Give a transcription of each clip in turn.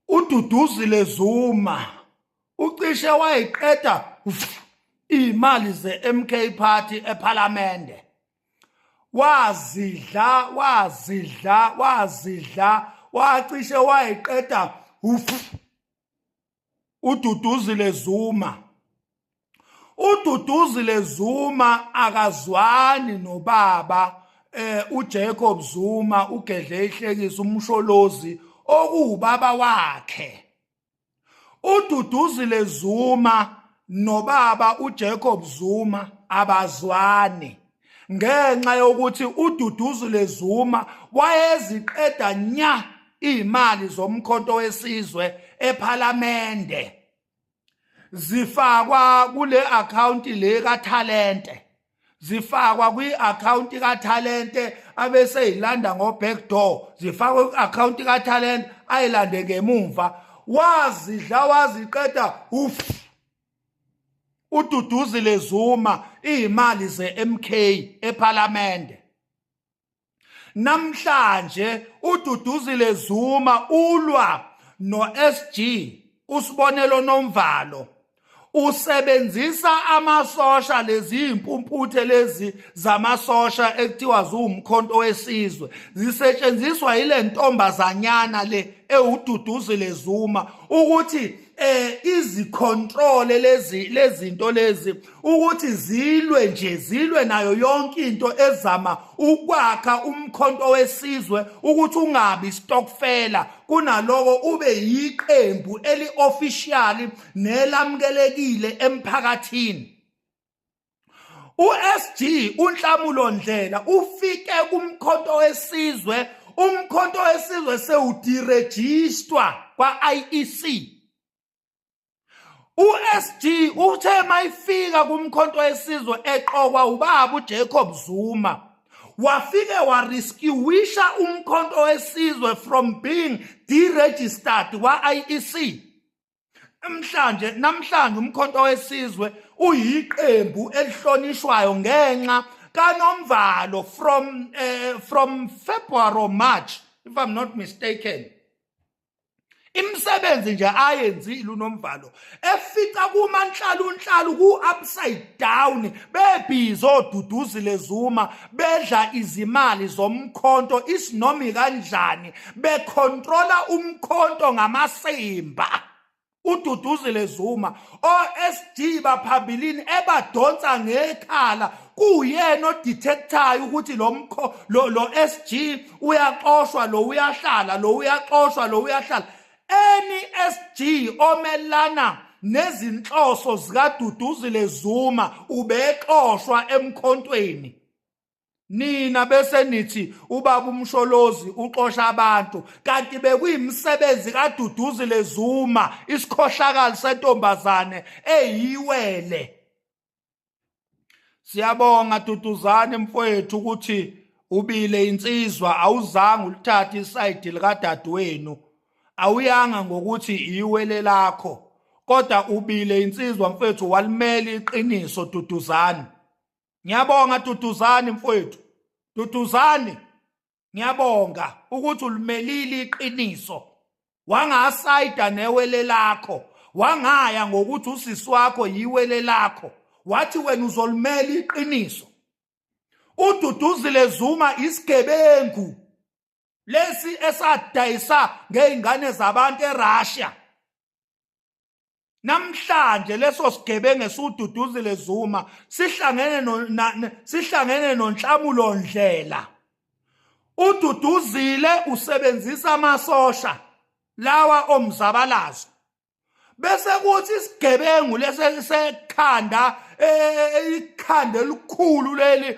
ududuzile zuma ucishe wayiqeda imali ze-mk party ephalamende wazidla wazidla wazidla wacishe wayiqeda ufu uDuduzile Zuma uDuduzile Zuma akazwani nobaba eh uJacob Zuma ugedle ihlekisa umsholozi okuwubaba wakhe uDuduzile Zuma nobaba uJacob Zuma abazwani ngenxa yokuthi uDuduzu leZuma wayeziqeda nya izimali zomkhonto wesizwe ePhalamende zifakwa kule account le kaThalente zifakwa kwi-account kaThalente abese yilanda ngo-back door zifakwe kwi-account kaThalente ayilande ngemumva wazidla waziqeda ufu ududuzile Zuma izimali zeMK ePhalamende namhlanje ududuzile Zuma ulwa noSG usibonelo nomvalo usebenzisa amasosha lezi impumputhe lezi zamasosha ekuthiwa ziwumkhonto wesizwe zisetshenziswa yile ntombazanyana le ewududuzile Zuma ukuthi eh izicontrole lezi lezinto lezi ukuthi zilwe nje zilwe nayo yonke into ezama ukwakha umkhonto wesizwe ukuthi ungabi stockfela kunaloko ube yiqembu eliofficial nelamukelekile emphakathini USG uNhlamulo Ndlela ufike kumkhonto wesizwe umkhonto wesizwe sewudirejistwa kwa-IEC USG uthe mayifika kumkhonto wesizwe eqokwa ubaba uJacob Zuma wafike warescuisha umkhonto wesizwe from being deregistered kwa-IEC Namhlanje namhlanje umkhonto wesizwe uyiqembu elihlonishwayo ngenxa kaNomvalo from uh, from February or March if I'm not mistaken imisebenzi nje ayenzile uNomvalo efica kumanhlalunhlalu ku-upside down bebhizi oduduzile Zuma bedla izimali zomkhonto isinomi kanjani bekhontrola umkhonto ngamasimba ududuzile Zuma oSD baphambilini ebadonsa ngekhala kuyena odetectayo ukuthi lo mkho lo SG uyaxoshwa lo uyahlala lo uyaxoshwa lo uyahlala NESG omelana nezinhloso zikaDuduzile Zuma ubexoshwa emkhontweni nina bese nithi ubaba umsholozi uxosha abantu kanti bekuyimisebenzi kaDuduzile Zuma isikhohlakali sentombazane eyiwele Siyabonga Duduzane mfowethu ukuthi ubile insizwa awuzange ulithathe isayidi likadadewenu awuyanga ngokuthi iwele lakho kodwa ubile insizwa mfethu walimela iqiniso duduzani ngiyabonga duduzani mfethu duduzani ngiyabonga ukuthi ulimelile iqiniso wangasayida newele lakho wangaya ngokuthi usisi wakho yiwele lakho wathi wena uzolimela iqiniso ududuzile zuma isigebengu lesi esadayisa ngeingane zabantu eRussia namhlanje leso sigebengu esiwududuzile Zuma sihlangene no sihlangene nonhlamulo ndlela ududuzile usebenzisa amasosha lawa omzabalazo bese kuthi isigebengu lesekhanda e, e, e, ikhanda elikhulu leli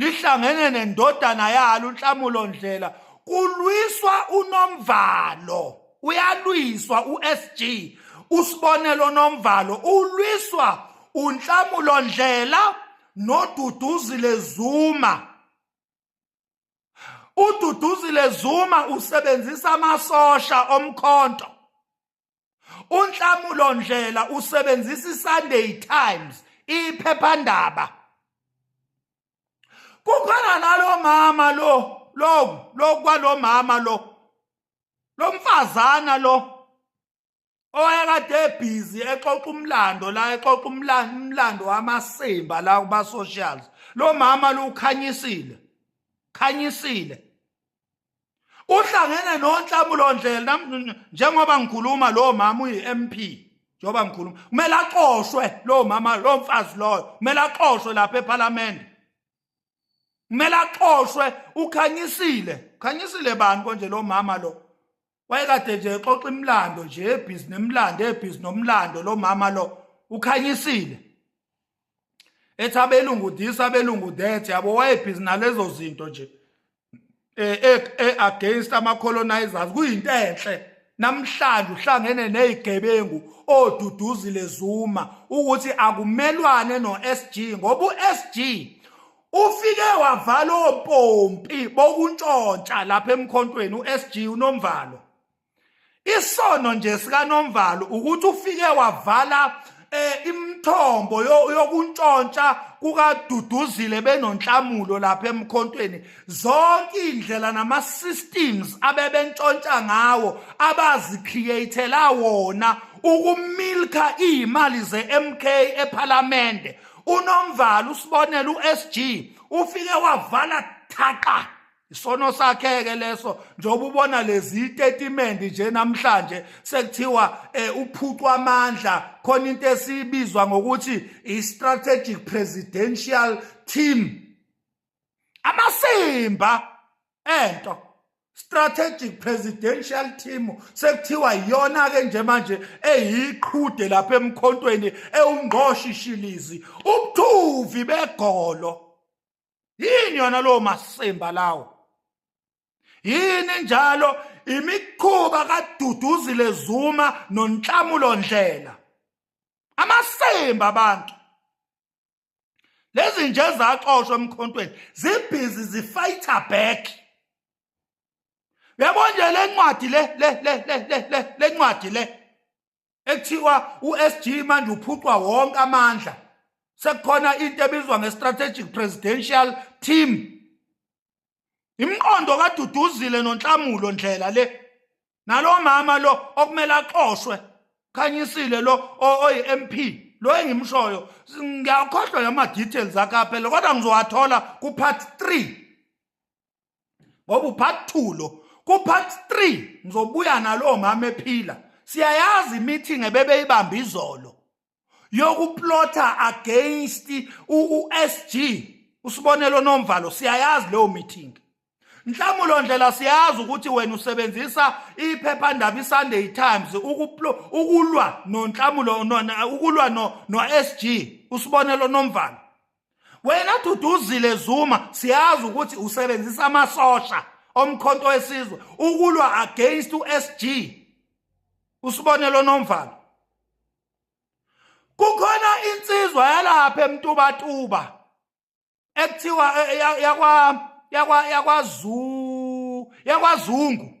lihlangene nendodana yalo uNhlamulo Ndlela kulwiswa unomvalo uyalwiswa uSG usibonelo nomvalo ulwiswa uNhlamulo Ndlela noDuduzile Zuma uDuduzile Zuma usebenzisa amasosha omkhonto unhlamulo ndlela usebenzisa iSunday Times iphephandaba kukhona nalo mama lo lo lo kwalo mama lo lo mfazana lo owayekade ebhizi exoxa umlando la exoxa umlando wamasimba la kuba socials lo mama lukhanyisile khanyisile uhlangene nonhlamulo ndlela njengoba ngikhuluma lo mama uyi MP njengoba ngikhuluma kumele axoshwe lo mama lo mfazi loyo kumele axoshwe lapha eParliament kumele axoshwe ukhanyisile ukhanyisile bani konje lo mama lo wayekade nje exoxa imlando nje ebhizi nemlando ebhizi nomlando lo mama lo ukhanyisile ethi abelungu this abelungu that yabo wayebhizi nalezo zinto nje eh, eh, eh against ama colonizers kuyinto enhle namhlanje uhlangene nezigebengu oduduzile Zuma ukuthi akumelwane noSG ngoba uSG Ufike wavala opompi bokuntshontsha lapha emkhontweni uSG uNomvalo. Isono nje sika Nomvalo ukuthi ufike wavala eh imthombo yokuntshontsha kukaduduzile benonhlamulo lapha emkhontweni zonke indlela nama systems abebentshontsha ngawo abazi createla wona ukumilka imali zeMK ePhalamende unomvalo usibonela uSG ufike wavala thaqa isono sakheke leso njengoba ubona lezi statement nje namhlanje sekuthiwa eh, uphucwa amandla khona into esibizwa ngokuthi i strategic presidential team amasimba ento strategic presidential team sekuthiwa iyona ke nje manje eyiqhude lapha emkhontweni ewungqoshi shilizi ubuthuvi begolo yini yona lo masimba lawo yini njalo imikhuba kaduduzile zuma nonhlamulo ndlela amasimba abantu lezi nje zaxoshwa emkhontweni zibhizi zifighter back yabo nje le ncwadi le le le le le le ncwadi le ekuthiwa uSG manje uphucwa wonke amandla sekukhona into ebizwa ngestrategic presidential team imqondo kaduduzile nonhlamulo ndlela le nalo mama lo okumele axoshwe khanyisile lo oyi MP lo engimshoyo ngiyakhohlwa yama details akhe aphela kodwa ngizowathola ku part 3 ngoba upart 2 lo ku part 3 ngizobuya nalo mama ephila siyayazi meeting ebebeyibamba izolo yokuplotha against uSG usibonelo nomvalo siyayazi leyo meeting Mhlamulo ndlela siyazi ukuthi wena usebenzisa iphephandaba iSunday Times ukulwa noNhlamulo ukulwa no noSG usibonelo nomvalo wena duduzile Zuma siyazi ukuthi usebenzisa amasosha omkhonto wesizwe ukulwa against uSG usibonelo nomvalo kukhona insizwa yalapha emtubatuba ekuthiwa eh, eh, yakwa yakwa yakwazu yakwazungu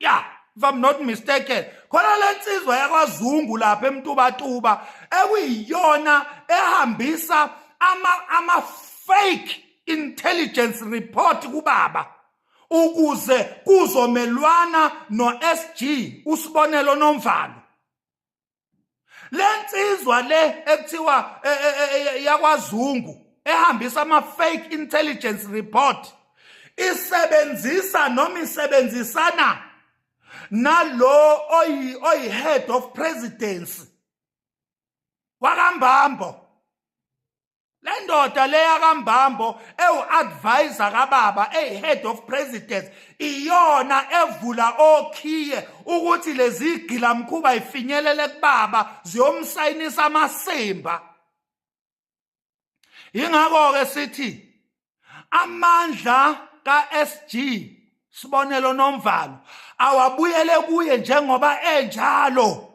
ya if i'm not mistaken khona lensizwa yakwazungu lapha emtubatuba ekuyiyona ehambisa ama ama fake intelligence report kubaba ukuze kuzomelwana noSG usibonelo nomvalo lensizwa le ekuthiwa e, e, e, yakwazungu ehambisa ama fake intelligence report isebenzisa noma isebenzisana nalo oyi oyi head of presidency wakambambo le ndoda leya kambambo ewu-advisor kababa eyi-head of presidents iyona evula okhiye ukuthi lezi gilamkhuba ifinyelele kubaba ziyomsayinisa amasimba yingakho-ke sithi amandla ka-sg sibonelo nomvalo awabuyele kuye njengoba enjalo